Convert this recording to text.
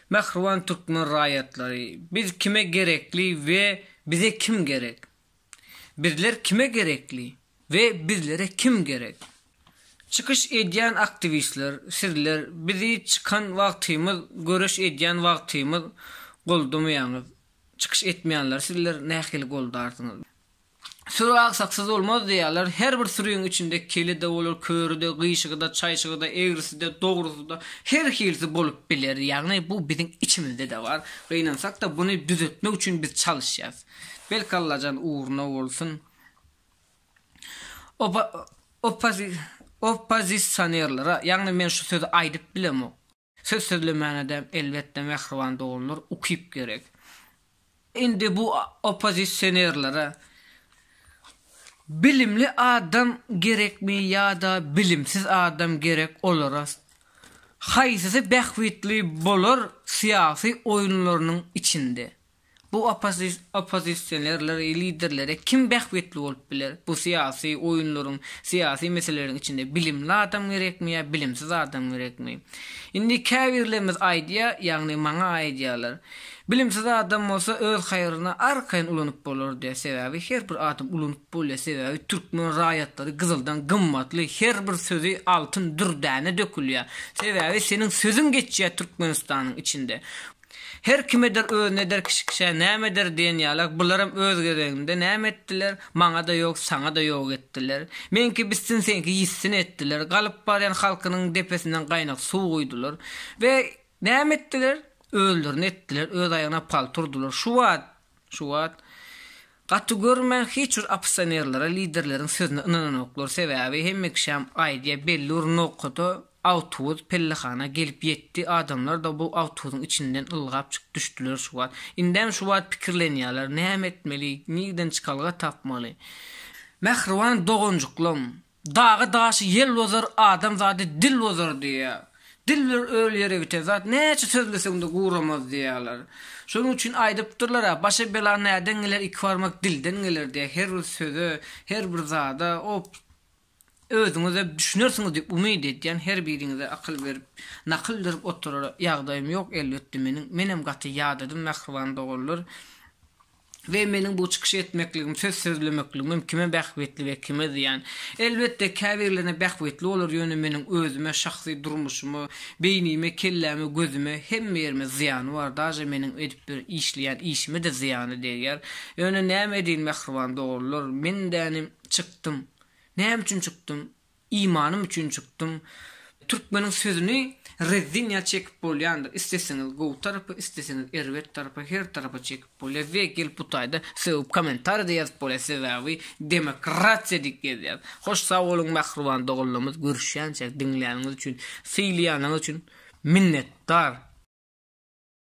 Mähriban türkmen raýatlary, biz kime gerekli we bize kim gerek? Bizler kime gerekli we bizlere kim gerek? Çykyş edýän aktiwistler, sizler bizi çykan wagtymyz, göreş edýän wagtymyz goldamaýaňyz. Çykyş etmeýänleri sizler nähili goldarsyňyz? Süri aksaksyz bolmaz diýýärler. Her bir süriň içinde keli-de bolar, köri-de, gyşygy-da, çaýşygy-da, egrisi-de, dogrusy-da, her hilisi bolup biler. Ýagny bu biziň içimizde-de bar. Gynansak-da buny düzetmek üçin biz çalyşýas. Belki Allajan ugruna bolsun. Opa, opa, oppozisionerlere, ýagny men şu sözi aýdyp bilemok. Söz sözlemäne-de, elbetde, mähriban doganlar, ukyp gerek. Indi bu oppozisionerlere bilimli adam gerekmi ýa-da bilimsiz adam gerek olara? Haýsysy bähbitli bolar syýasy oýunlarynyň içinde? Bu oppozisionerler, liderleri kim bähbitli bolup biler? Bu syýasy oýunlaryň, syýasy meseleleriň içinde bilimli adam gerekmi ýa bilimsiz adam gerekmi? Indi käbirlerimiz aýdýar, ýagny maňa aýdýarlar, Bilimsiz adam bolsa öz haýryna arkaýyn ulanyp bolar diýýär. Sebäbi her bir adam ulanyp bolýar, sebäbi türkmen raýatlary gyzyldan gymmatly, her bir sözi altyn dürdäne dökülýär. Sebäbi seniň sözüň geçýär Türkmenistanyň içinde. Her kim eder özüne eder kişi kişä näme eder diýen ýalak bularam öz gezeginde näme etdiler maňada ýok saňada ýok etdiler meňki bitsin seňki ýitsin etdiler galyp barýan halkynyň depesinden gaýnak suw guýdular we näme etdiler özlerini etdiler öz aýagyna palta urdular şu wagt Şu wagt gaty görme hiç bir opposionerlere liderleriň sözüne ynananoklar sebäbi hemme kişäm aýdýa belli bir nokada awtubus pellehana gelip ýetdi adamlar da bu awtubusyň içinden ylgap çykyp düşdiler şu wagt indem şu wagt pikirlenýaler näme etmeli nirden çykalga tapmaly mähriban doganjyklam Dagy daşy ýel bozar adam zady dil bozar diýýär. Dil bir öl ýere biter zat näçe sözleseňde guramaz diýýärler. Şonuň üçin aýdypdyrlar-a başa bela näden geler iki barmak dilden geler diýýär her bir söze her bir zada op özüňize düşünersiňiz diýip umyt edýän her biriňize akyl berip nakyl berip oturara ýagdaýym ýok elbetde meniň menem gaty ýadadym mähriban doganlar. we meniň bu çykyş etmekligim, söz sözlemekligimem kime bähbitli we kime zyýan? Elbetde, käbirlerine bähbitli bolar, ýöne meniň özüme, şahsy durmuşyma, beýnime, kelläme, gözüme, hemme ýerime zyýany bar, daže meniň edip bir işleýän işime-de zyýany degýär. Ýöne näme edeýin, mähriban dogrular, men dänim, çykdym. Näme üçin çykdym? Imanym üçin çykdym. Türkmeniň sözüni rezzin ýaly çekip bolýandyr. Isteseňiz gowy tarapa, isteseňiz erbet tarapa, her tarapa çekip bolýar we gelip bu taýda sögüp komentariýada ýazyp bolýar sebäbi demokratiýa diýip gezýär. Hoş sag boluň mähriban doganlarymyz görüşýänçäk diňläniňiz üçin, sylaýanyňyz üçin minnetdar.